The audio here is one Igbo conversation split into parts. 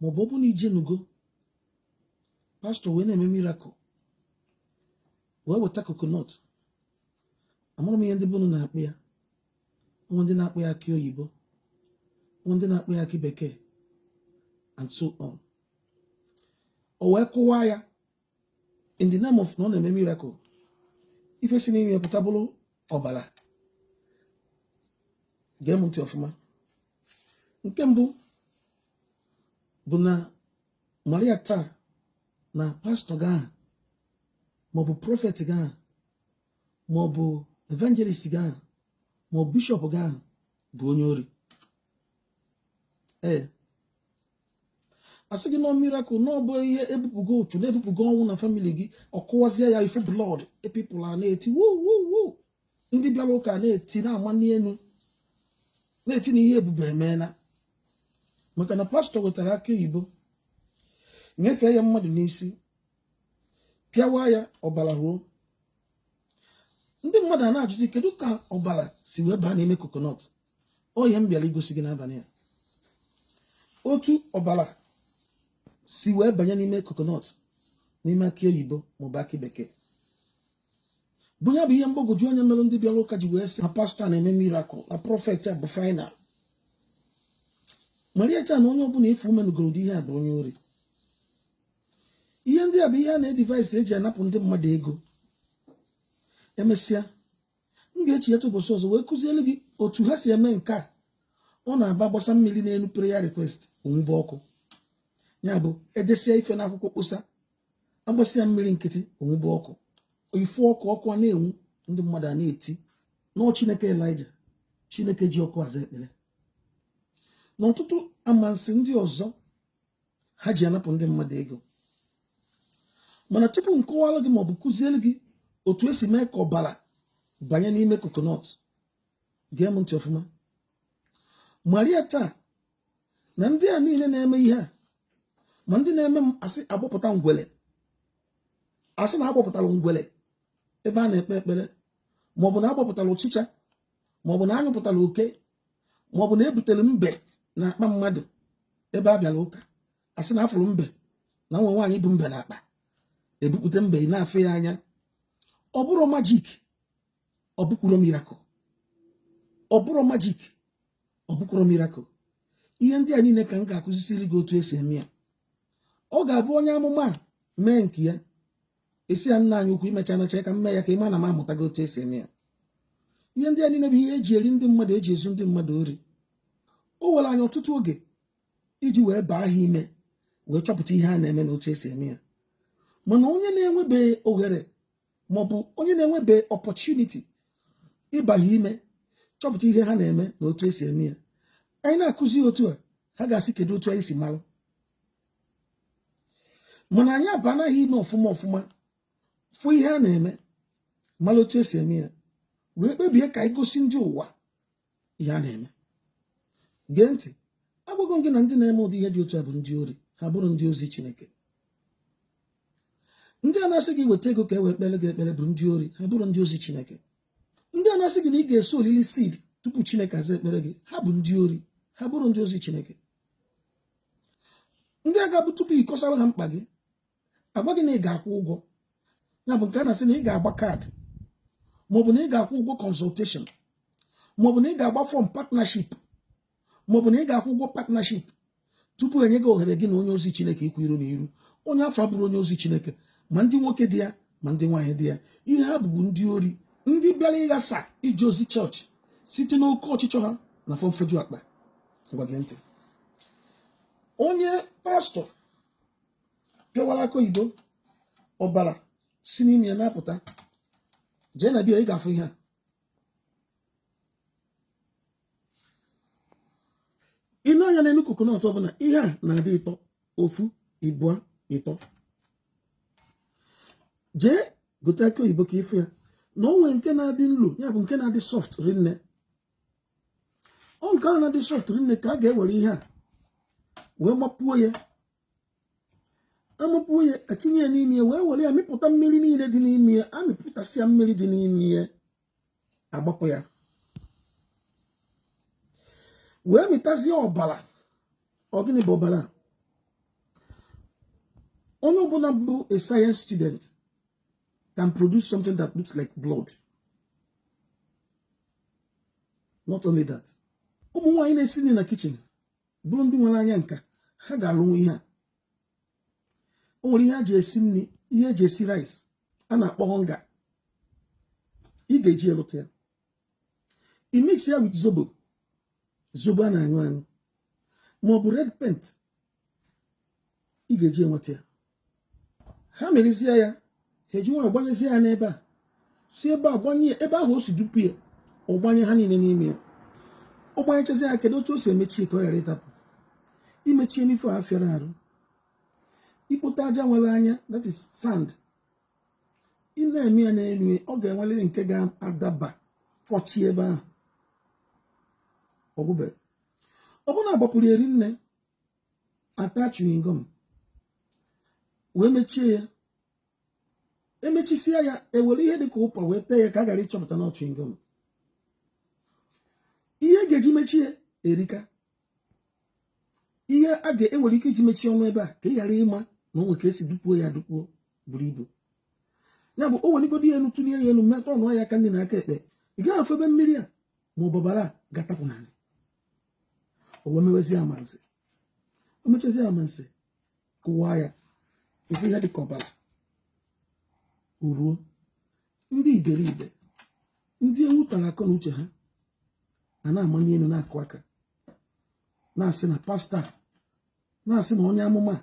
maọbụ ọ bụ na ị jenugo pastor wee na-eme miracle wee weta coconut amarọ m ihe ndị be unu na-akpọ ya nwee ndị na-akpọ ya akị oyibo nwee ndị na-akpọ ya akị bekee and so on o wee kụwa ya in the name of na ọ na-eme miracle ife si n'ime pụta bụrụ ọbara gee m ntị ọfụma nke mbụ bụ na mara ya taa na pastor gị ahụ maọbụ prophet gị ahụ maọbụ evangelist gị ahụ maọbụ bishop gị ahụ bụ onye ori ee asị gị na ọ miracle na ọ bụ ihe ebupụgo ụchụ na ebupụgo ọnwụ na family gị ọ kụwazie ya ị fụ blood people a na-eti wuwuwu ndị bịara ụka na-eti na-amani elu na-eti na ihe ebube emeela maka na pastor wetara akị oyibo nyefee ya mmadụ n'isi pịawa ya ọbara ruo ndị mmadụ a na-ajụzi kedu ka ọbara si wee baa n'ime coconut ọ ihe m bịara igosi gị n'abalị a otu ọbara si wee banye n'ime coconut n'ime akị oyibo maọbụ akị bekee bụ ya bụ ihe mgbagwoju anya mere ndị bịara ụka ji wee sị na pastor na-eme miracle na prophet a bụ final mara ya taa na onye ọbụla ị fụ menugoro ụdị ihe a bụ onye ori ihe ndị a bụ ihe a na-edevise eji anapụ ndị mmadụ ego emesịa m ga-echeta ụbọchị ọzọ wee kụziere gị otu ha si eme nke a ọ na-abụ a gbasa mmiri n'elu prayer request o nwube ọkụ ya bụ e desịa ife n'akwụkwọ kpọsa a gbasa ya mmiri nkịtị o nwube ọkụ ị fụ ọkụ ọkụ a na-enwu ndị mmadụ a na-eti na ọ chineke elija chineke ji ọkụ aza ekpere na ọtụtụ amansi ndị ọzọ ha ji anapụ ndị mmadụ ego mana tupu m kọwara gị maọbụ kụziere gị otu esi mee ka ọbara banye n'ime coconut gee m ntị ọfụma mara ya taa na ndị a niile na-eme ihe a ma ndị na-eme ma asị agbọpụta ngwele asị na agbọpụtara ngwele ebe a na-ekpe ekpere maọbụ na agbọpụtara ụchịcha maọbụ na anyụpụtara oke maọbụ na ebutere mbe na akpa mmadụ ebe a bịara ụka a sị na afụrụ mbe na nwa nwaanyị bu mbe na akpa ebupụta mbe ị na-afụ ya anya ọ bụrọ magic ọ bụkwurọ miracle ọ bụrọ magic ọ bụkwurọ miracle ihe ndị a niile ka m ga-akụzisiri gị otu esi eme ya ọ ga-abụ onye amụma mee nke ya a sị ya nna anyị ukwu i mecha nọcha ka m mee ya ka ị ma na m amụtago otu esi eme ya ihe ndị a niile bụ ihe eji eri ndị mmadụ eji ezu ndị mmadụ ori o were anyị ọtụtụ oge iji wee baa ha ime wee chọpụta ihe a na-eme na otu esi eme ya mana onye na-enwebe ohere maọbụ onye na-enwebe opportunity ịba ha ime chọpụta ihe ha na-eme na otu esi eme ya anyị na-akụzi otu a ha ga-asị kedu otu anyị si malụ mana anyị abaana ha ime ọfụma ọfụma fụ ihe a na-eme mara otu esi eme ya wee kpebie ka anyị gosi ndị ụwa ihe a na-eme gee ntị agwago m gị na ndị na-eme ụdị ihe dị otu a bụ ndị ori ha abụrọ ndị ozi Chineke ndị a na-asị gị weta ego ka e wee kpere gị ekpere bụ ndị ori ha abụrọ ndị ozi Chineke ndị a na-asị gị na ị ga-esowlili seed tupu chineke aza ekpere gị ha bụ ndị ori ha abụrọ ndị ozi chineke ndị a ga-abụ tupu ịkọsara ha mkpa gị agwa gị na ị ga-akwụ ụgwọ ya bụ nke a na-asị na ị ga-agba card maọbụ na ị ga-akwụ ụgwọ consultation maọbụ na ị ga-agba form partnership maọbụ na ị ga-akwụ ụgwọ partnership tupu enye gị ohere gị na onye ozi chineke ikwu iru na iru onye afụ abụrọ onye ozi chineke ma ndị nwoke dị ya ma ndị nwaanyị dị ya ihe ha bụ bụ ndị ori ndị bịara ịghasa ije ozi church site n'oke ọchịchọ ha na afọ mfeju akpa ngwa gee ntị onye pastor pịawara akị oyibo ọbara si n'ime ya na-apụta jee na bịa ị ga-afụ ihe a i lee anya n'elu coconut ọbụla ihe a na-adị ịtọ ofu ịbụa ịtọ jee gote akị oyibo ka ị fụ ya na o nwe nke na-adị nlo ya bụ nke na-adị soft rinne ọ nke ahụ na-adị soft rinne ka a ga-ewere ihe a wee mapuo ya amapuo ya etinye ya n'ime ya wee were ya mịpụta mmiri niile dị n'ime ya amịpụtasịa mmiri dị n'ime ya agbapụ ya wee mịtazie ọbara ọ gịnị bụ ọbara onye ọbụla bụ a science student can produce something that looks like blood not only that ụmụ nwaanyị na-esi nri na kitchen bụrụ ndị nwere anya nka ha ga-alụnwu ihe a o nwere ihe eji esi nri ihe eji esi rice a na-akpọ Onga ị ga-eji ya lụta ya i mix ya with zobo zobo a na-aṅụ aṅụ ma ọ bụ red paint ị ga-eji enweta ya ha merezie ya ha eji nwayọ gbanyezie ya n'ebe a si ebe a gbanye ebe ahụ o si dupu ya ọ gbanye ha niile n'ime ya ọ gbanyechazi ya kedu otu o si emechi ka ọ ghara ịtapụ imechi n'ife a fịara arụ ikpote aja nwere anya that is sand ị na-eme ya n'elu ọ ga-enwerịrị nke ga-adaba fọchie ebe ahụ ọgwụbe ọ bụrụ na a gbapuru ya rinne a taa chewing gum wee mechie ya emechisie ya ewere ihe dị ka ụpa wee tee ya ka a ghara ịchọpụta na ọ chewing gum ihe a ga-eji mechie erika ihe a ga-enwere ike iji mechie ọnụ ebe a ka ị ghara ịma na o nwe ka e si dupuo ya dupuo buru ibu ya bụ o weligodu ya elu tụlie ya elu metụ ọnụ ya aka nni na aka ekpe ị gaghị afụ ebe mmiri a ma ọ bụ ọbara ga-atapụ n'ala o wee mewezi amansi o mechazi amansi kụwaa ya ife a dịka ọbara eruo ndị iberibe ndị ewu tara akọ na uche ha a na-amali elu na-akụ aka na-asị na pastor na-asị na onye amụma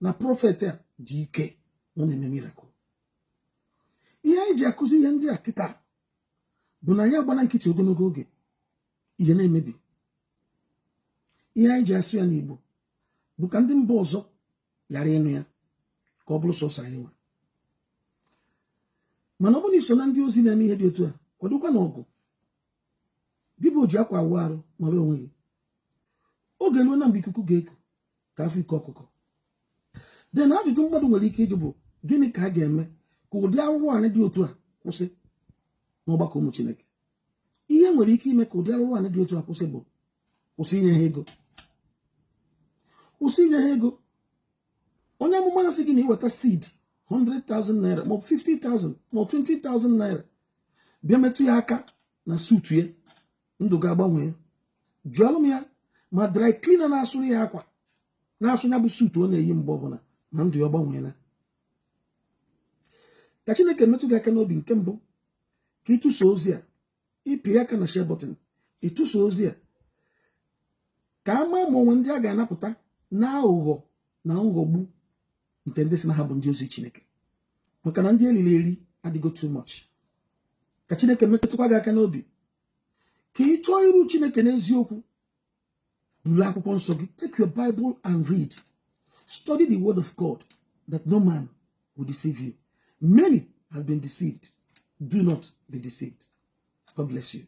na prophet a dị ike na ọ na-eme miracle ihe anyị ji akụzi ihe ndị a kịta bụ na anyị agbana nkịtị ogologo oge ihe na-emebi ihe anyị ji asụ ya n'Igbo bụ ka ndị mba ọzọ ghara ịnụ ya ka ọ bụrụ sọsọ anyị nwa mana ọ bụrụ na i so na ndị ozi na-eme ihe dị otu a kwadokwa na ọgụ gị bụ oji akwa awụ arụ mara onwe gị oge eruona mgbe ikuku ga-eku ka a fụ ike ọkụkọ then ajụjụ mmadụ nwere ike ịjụ bụ gịnị ka a ga-eme ka ụdị arụrụ anị dị otu a kwụsị n'ọgbakọ ụmụ Chineke ihe nwere ike ime ka ụdị arụrụ anị dị otu a kwụsị bụ kwụsị inye ha ego kwụsị inye ha ego onye amụma asị gị na iweta seed 100,000 naira maọbụ 50,000 maọbụ 20,000 naira bịa metụ ya aka na suit ya ndụ ga-agbanwe ya jụọlụ m ya ma dry cleaner na-asụrụ ya akwa na-asụ ya bụ suit ọ na-eyi mgbe ọbụla na ndụ ya ọ gbanweela ka chineke metụ gị aka n'obi nke mbụ ka ị tụsa ozi a ị pịa aka na share button ị tụsa ozi a ka a maa ma o nwe ndị a ga-anapụta na aghụghọ na nghọgbu nke ndị si na ha bụ ndị ozi chineke maka na ndị eliri eri adịgo too much ka chineke metụkwa gị aka n'obi ka ị chọọ iru chineke n'eziokwu buru akwụkwọ nsọ gị take your bible and read study the word of god that no man will deceive you many has been deceived do not be deceived god bless you